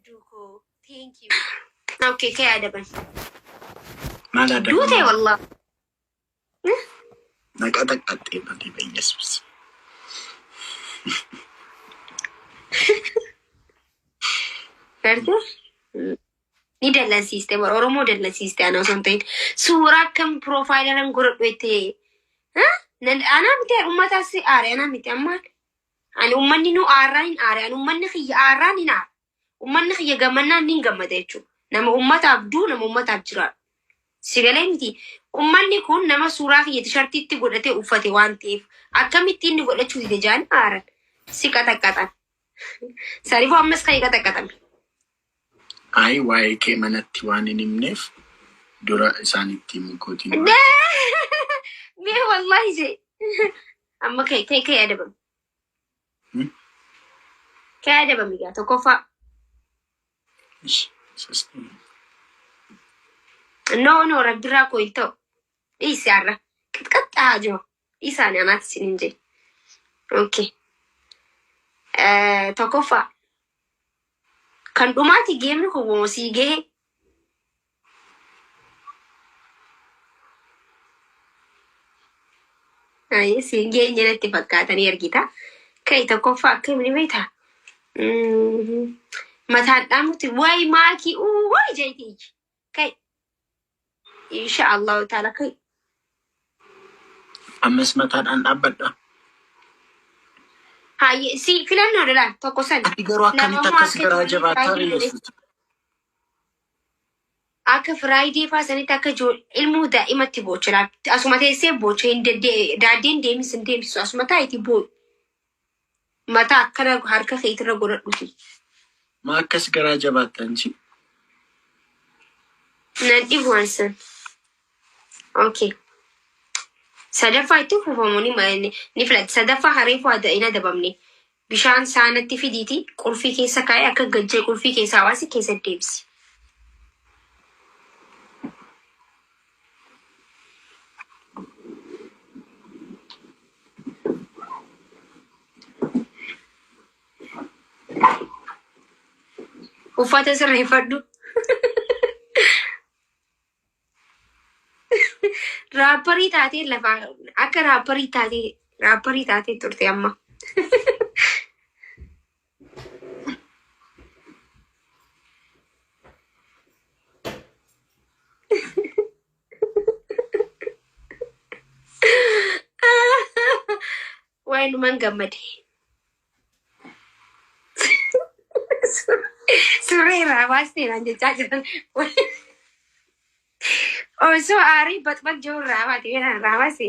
Duuko, thank you. Okay, kee adaban. Maal adda Duute baafna? wallah. Naqa taqqaxxee malee bayyeessus. Gartuu? Ni dallansiiste bara Oromoo dallansiiste ana osoo hin ta'in. Suuraa akkam piroofaayila nan godhadhu jettee. Anaa miti ummataas aare anaa miti amma Ani ummanni nu aarraa hin aare, ani ummanni kiyya aarraa hin aara. Ummanni kiyya gammannaan nin gammada jechuudha. Nama ummataaf duu, nama ummataaf jiraadhu. Si galee miti. Ummanni kun nama suuraa kiyya tishartiitti godhatee uffate waan ta'eef akkamitti inni godhachuu dide jaanii aaran. Si qaxaqqaxan. Sarifoo ammas ka'ee qaxaqqaxame. Ayi waa'ee kee manatti waan hin himneef dura isaanitti himuu kootiin hubadhe. Mee wallahi se amma kee kee kee adabami. Hmm? Kee adabami gaa tokkoffaa. Ish, isas- No no rabbirraa koo hin ta'u. Dhiisi har'a. Qixqaxxaa jiru. Dhiisaa ani anaati isin hin jee. Okay. Eh, Tokkoffaa kan dhumaati geemni kun moo sii gahe Ayi, siin geenye natti fakkaatanii argita. Kai tokkoffaa akkamiin beekta? Mm, Mataan dhaamutti wayi maakii uu wayi jeetii. Kai. Insha Allahu ta'ala kai. Ammas mataadhaan dhaabbadha. Haayye si filannoodha laa tokko san. Ati garuu akkamitti Namummaa akkas akka garaa ijoollee jabaattaa Firaayidee godhe. beektu? Akka Firaayidee faa sanitti akka ijool- ilmoo daa'imatti boocha laal. Asuma teessee boocha hin dedde- daaddeen deemis hin deemsisu. Asuma taa'itii boo'u. Mataa akkana harka keetirra godhadhuti. Maa akkas garaa jabaatta anchi? Nan dhibu waan san. Okay. Sadaffaa itti fufamu ni ma- ni ni filatti. Sadaffaa hareefuu ada hin adabamne. Bishaan saanatti fidiiti qulfii keessa kaa'ee akka gajjee qulfii keessaa baasi keessa deebisi. Uffata sirreeffadhu. Raapparii taatee lafa akka raapparii taatee raapparii taatee turte amma. Wayinumaan gammade. Surree irraa baastee naan jechaa jiran. Osoo aarii baxbax jiru irraa baate kanaan irraa baase.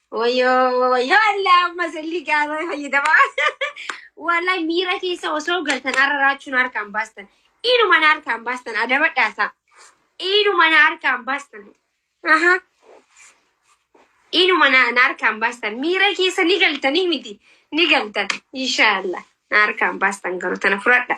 Wayyoo wayyoo Allah amma salli gaara fayyadama. Wallahi miira keessa osoo galtan har'a raachuun harkaan baastan. Inuma na harkaan baastan adabadhaasa. Inuma na harkaan baastan. Aha. Inuma na na harkaan baastan. Miira keessa ni galtanii miti. Ni galtan. Inshaallah. Na harkaan baastan garuu tana fudhadha.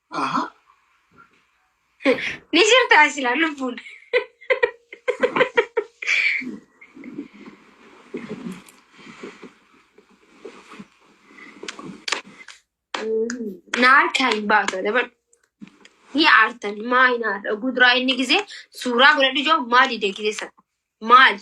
Aha. Ni jirtaa silaa lubbuun. Na harkaa hin baatu dabar. Ni aartan maa hin aarta. Guduraa inni gisee suuraa godhadhu jiru maali deegise sana. Maali.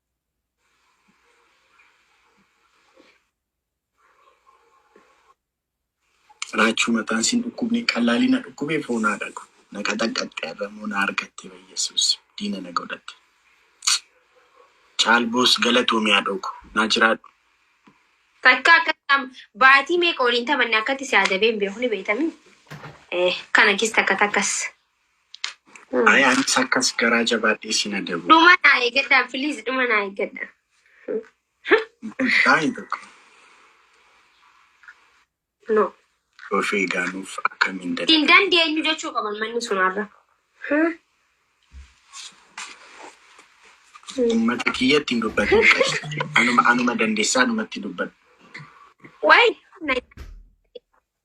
Raachuu mataan siin dhukkubne qallaalii na dhukkubee foonaa dhagu. Na qaxaqqaxxe arramoo na argatte bayyesuus diina na godhatte. Caalboos galatoomi haadhoo ko naa jiraadhu. Takka akkam baatii meeqa waliin taphanne akkatti si adabeen beeku ni beektamii? Eh, kana kis takka takkas. Ah. Ay anis akkas garaa jabaadhee si na dabu. Dhuma naa eeggadhaa please dhuma naa eeggadhaa. Baay'ee tokko No. of eegaanuuf akkamiin dada. Hin dandeenyu jechuu qaban manni sun har'a. Uummata kiyyatti hin dubbatu. Anuma anuma dandeessaa anumatti dubbatu. Wayi.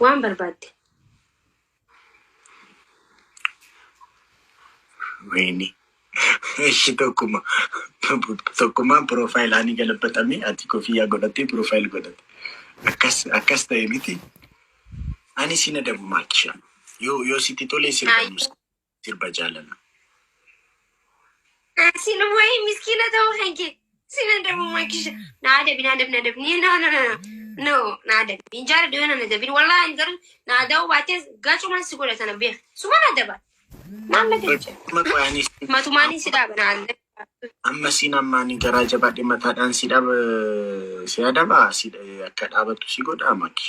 Waan barbaadde. Wayne. Ishi tokkuma tokkummaan piroofaayilii galabaxamee ati kofiyyaa godhattee piroofaayil godhatte. Akkas akkas ta'e miti. Ani si na dabu maakisha. Yoo yoo sitti tolee sirba Ayi. nuus. sirba jaalala. Sin wayi miskiina ta'uu kan kee sin adabu makisha na adabi na adabi na adabi ni no no no no no na adabi hin jaara dhiyoo na adabi walaa hin garu na adabu baatee gacumaan si godha sana beeka suma na adaba maal na galcha Amma qoyaanis matumaanii si dhaaba na adabi amma siin ammaanii garaa jabaadhe mataadhaan si dhaba si adaba si akka dhaabattu si godha maki.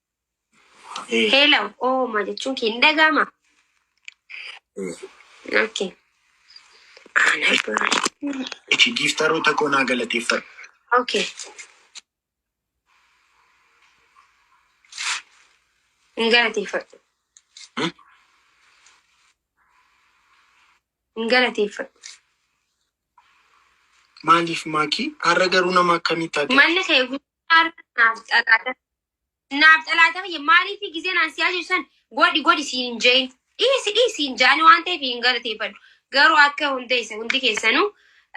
Heelaw ooma jechuun kee hin dhaga'ama. Okay. Ana dura. Ishi giiftaroota koo naa galateeffadhu. Okay. Hin galateeffadhu. Hmm? Hin galateeffadhu. Maaliif maakii? Har'a garuu nama akkamitti ati? Manni kee guutuu har'a naaf xalaata. Naaf xalaata kiyya maaliif gizee naan siyaa jiru san godhi godhi siin jeen dhiisi dhiisi siin jaani waan ta'eef hin galateeffadhu garuu akka hundeessa hundi keessanuu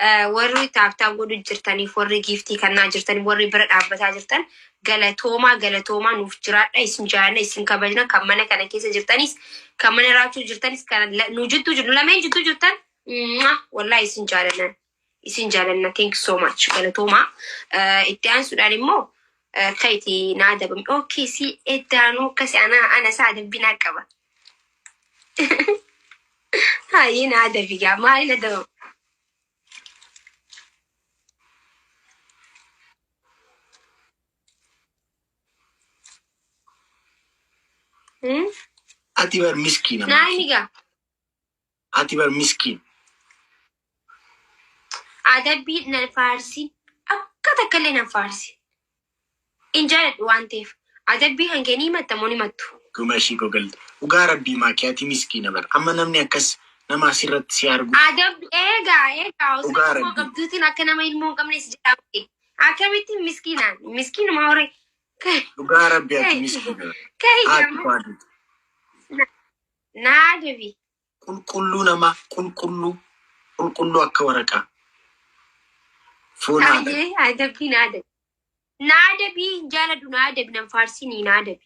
eh, warri taaftaa godhu jirtaniif warri giiftii kannaa jirtan warri bira dhaabbataa jirtan galatoomaa galatoomaa nuuf jiraadha isin jaalana isin kabajna kan mana kana keessa jirtanis kan mana raachuu jirtanis kan la- nu jidduu jirtu lameen jidduu jirtan mwah, wallahi isin jaalana isin jaalanna thank you so much galatoomaa Eh, itti aansuudhaan immoo eh, akka itti na adabame ok si eddaanuu akkasi ana ana isaa adabbii naa qaba haayii na adabi gaa maaliin adabama Hmm? Ati bar miskiina. naa inni gaa Ati bar miskiin. Adabbii nan faarsin akka takkallee nan faarsin hin jaaladhu waan ta'eef adabbii kan kee ni himatta moo hin himattu? Guma ishii kogalte. Dhugaa rabbii maakii ati miskiina bar amma namni akkas nama asirratti si argu. Adabbi eegaa eegaa osoo Dhugaa ilmoo rabbii. qabduutiin akka nama ilmoo hin qabne si jedhaa miti akkamitti miskiinaan miskiinuma hore Dhugaa rabbii ati miskiina bar. Ka'i Haati amma. koo adii. Naa debi. Qulqulluu namaa qulqulluu qulqulluu akka waraqaa foonaa dha. Ayyee haa debi naa debi. Naa debi hin jaaladu naa debi nan faarsinii naa debi.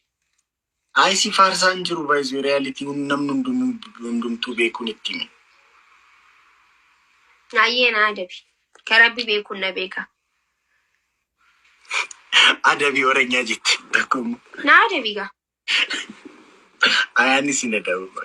Ayi si faarsaa hin jiru baay'isuu reality hun namni hundumuu hundumtuu beekuun itti himi. Ayyee naa debi. Ka rabbi beekun na beeka. Adabii oranyaa jette takka immoo. Naa adabii gaa. Ayaan isin adabuu.